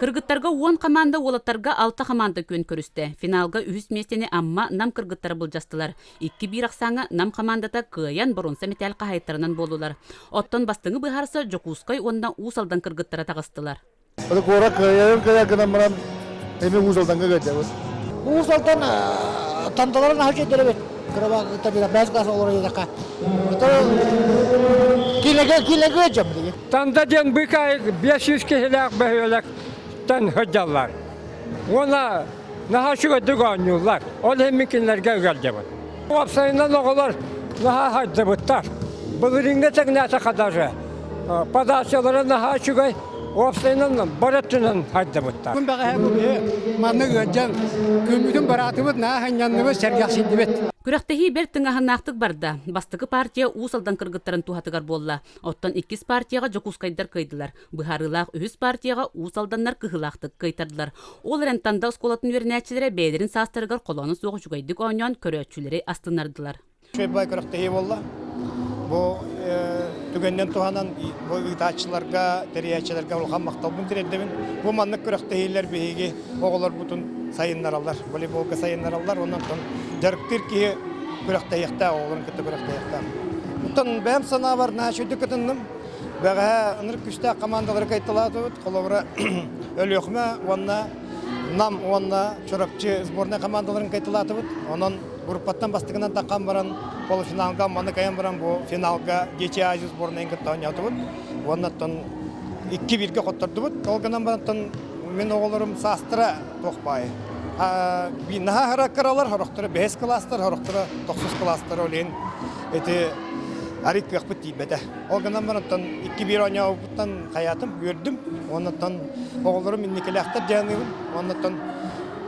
Кыргыттарга уон хамаанда, уолаттарга алта хамаанда күөн көрүстэ. Финалга үһүс миэстэни Амма Нам кыргыттара былдьастылар. Икки биир ахсааҥҥа Нам хамаандата кыайан боруонса мэтээл хаһаайыттарынан буоллулар. Оттон бастыҥы быһаарса Дьокуускай уонна Уус Алдан кыргыттара таҕыстылар. Куорат кыайарын кыайар гынан баран эми Уус Алданга кэлдибит. Уус Алдан танталарын аһа кэлдэребит. Кырабаан кытта бирэ бэс гаас олор едэхэ. Килэге килэге жамдыгы. Танда диэн быкай биэс сүүс киһилээх бөһүөлэктэн сылдьаллар. Уона наһаа үчүгэйдик оонньууллар. Ол иһин мин кинилэргэ ыгалдьабын. Уопсайынан оҕолор наһаа сардыбыттар. Былырыыҥҥа тэҥнээтэххэ даже подачалара наһаа үчүгэй. Уопсайынан бары өттүнэн сардыбыттар. Күн бэҕэһээ бу маннык ыалдьан күммүтүн бараатыбыт наһаа сынньанныбыт, сэргэхсийдибит. Күрэхтэһии бэрт тыҥаһыннаахтык барда. Бастакы партия Уус Алдан кыргыттарын туһатыгар буолла. Оттон иккис партияҕа Дьокуускайдар кыайдылар. Быһаарыылаах үһүс партияҕа Уус Алданнар кыһылаахтык кыайтардылар. Ол эрэн Танда оскуолатын үөрэнээччилэрэ бэйэлэрин саастарыгар холооно суох үчүгэйдик оонньоон көрөөччүлэри астыннардылар. Чыырбай күрэхтэһии буолла. Бу түгэнинэн туһанан бу ыытааччыларга, тэрийээччилэргэ улахан махталбын тириэрдэбин. Бу маннык күрэхтэһиилэр биһиги оҕолорбутун сайыннараллар, волейболга сайыннараллар, онон оттон дьарыктыыр киһи күрэхтэһиэхтээх, оҕолорун кытта күрэхтэһиэхтээх. Оттон бэйэм санаабар наачыйдык кытынным. Бэҕэһээ ынырык күстээх командалары кайталаатыбыт. Холобура, Өлүөхүмэ уонна Нам уонна Чурапчы сборнай командаларын кайталаатыбыт. Онон группаттан бастакынан таххан баран, получфиналга маныкайан баран бу финалга Дичи Азия сборнайын кытта оонньоотубут. Уонна оттон 2-1-гэ хоттордубут. Ол гынан баран Мин оҕолорум саастара туох баай. Наһаа ыра кыралар хорохторо бэһис кылаастар хорохторо тохсус кылаастара олейн ити арик кыахпыт тиийбэтэ. Ол гынан барантан икки биир оонньообупуттан хаятым үөрдүм. Оннуттан оҕолорум инникилээхтэр дьаныыбын. Оннуттан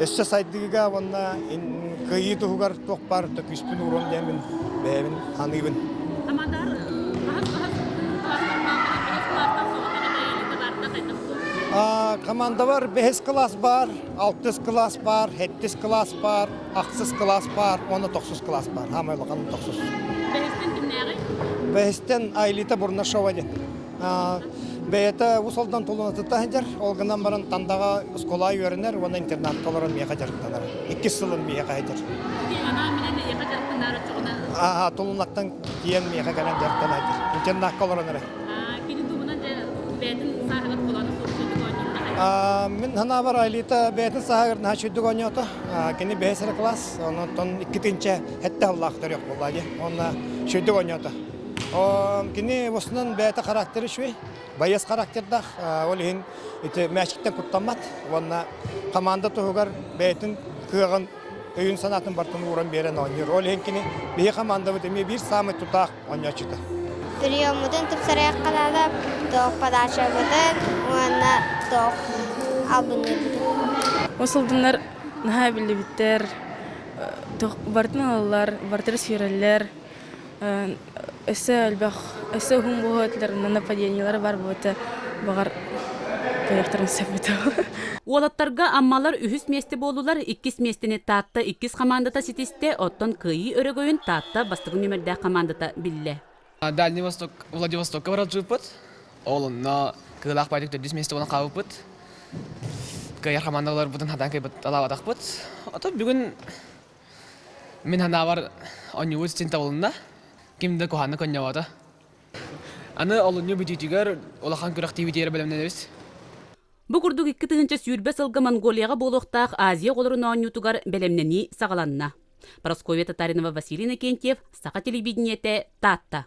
Өссө сайдыыга уонна кыайыы туһугар туох баар төкүспүн ууран диэмин бэйэбин саныыбын. Амадар хаһыс хаһыс бэһис кылаастан солотоҕо бэйэлик табаарда хайдах Командабар бэһис кылаас баар, алтыс кылаас баар, хэттис кылаас баар, ахсыс кылаас баар, уонна тохсус кылаас баар. Хамай улахан тохсус. Бэһистен кимнээҕи? Бэһистен Айлита Бурнашова диэн. Бэйэтэ Уус Алдан тулунатыттан сылдьар, ол гынан баран Тандаҕа оскуола үөрэнэр уонна интернатка олорон миэхэ дьарыктанар. Иккис сылын миэхэ сылдьар. Анаан менен миэхэ дьарыктанар оччоҕуна Ааһа, тулунаттан тиийэн миэхэ кэлэн дьарыктана сылдьар. Интернатка олорон эрэ. кини дуобунан бэйэтин сааһыгар холооно суох сүрдүк оонньуурдаҕа. Мин санаабар Айлита бэйэтин сааһыгар наһаа сүрдүк оонньоото. Кини бэһис эрэ кылаас, онон иккитинчэ сэттэ сыллаах төрүөх буолла дии. Уонна сүрдүк оонньоото. Кини босунан бэйэтэ характера үчүгэй, байыас характердаах. Ол иһин ити мээчиктэн куттаммат уонна хамаанда туһугар бэйэтин кыаҕын, өйүн-санаатын барытын ууран биэрэн оонньуур. Ол иһин кини биһи хамаандабыт эмиэ биир саамай тутаах оонньооччута. Сырьеммутун тупсарыахха наада, tok подачабытын уонна tok албынныыбытын. Ол сылдыннар наһаа биллибиттэр, барытын ылаллар, барытыгар сүүрэллэр. өссө элбэх өссө уһун буолуутар нападениелары бар буолуота баҕар кыайыахтарын сөбүтэ уолаттарга аммалар үһүс миэстэ буоллулар иккис миэстэни таатта иккис хамаандата ситистэ оттон кыайыы өрөгөйүн таатта бастакы нүмердээх хамаандата биллэ дальний восток владивостокка барар жыыппыт ол онно кыылаах байтик төрдүс миэстэ буолан хаалбыппыт кыайар хамаанда олорбутун хадан кыйбыт алаабатахпыт отон бүгүн Мин ханаабар оонньуубут син табылынна. Ким да куһааннык оонньообото. Аны олунньу бүтүүтүгэр улахан күрэхтиибитигэр бэлэмнэнэбит. Бу курдук икки тыһыынча сүүрбэ сылга Монголияҕа буолуохтаах Азия оҕолорун оонньуутугар бэлэмнэнии саҕаланна. Прасковья Татаринова, Василий Иннокентьев, Саха телевидениете, Таатта.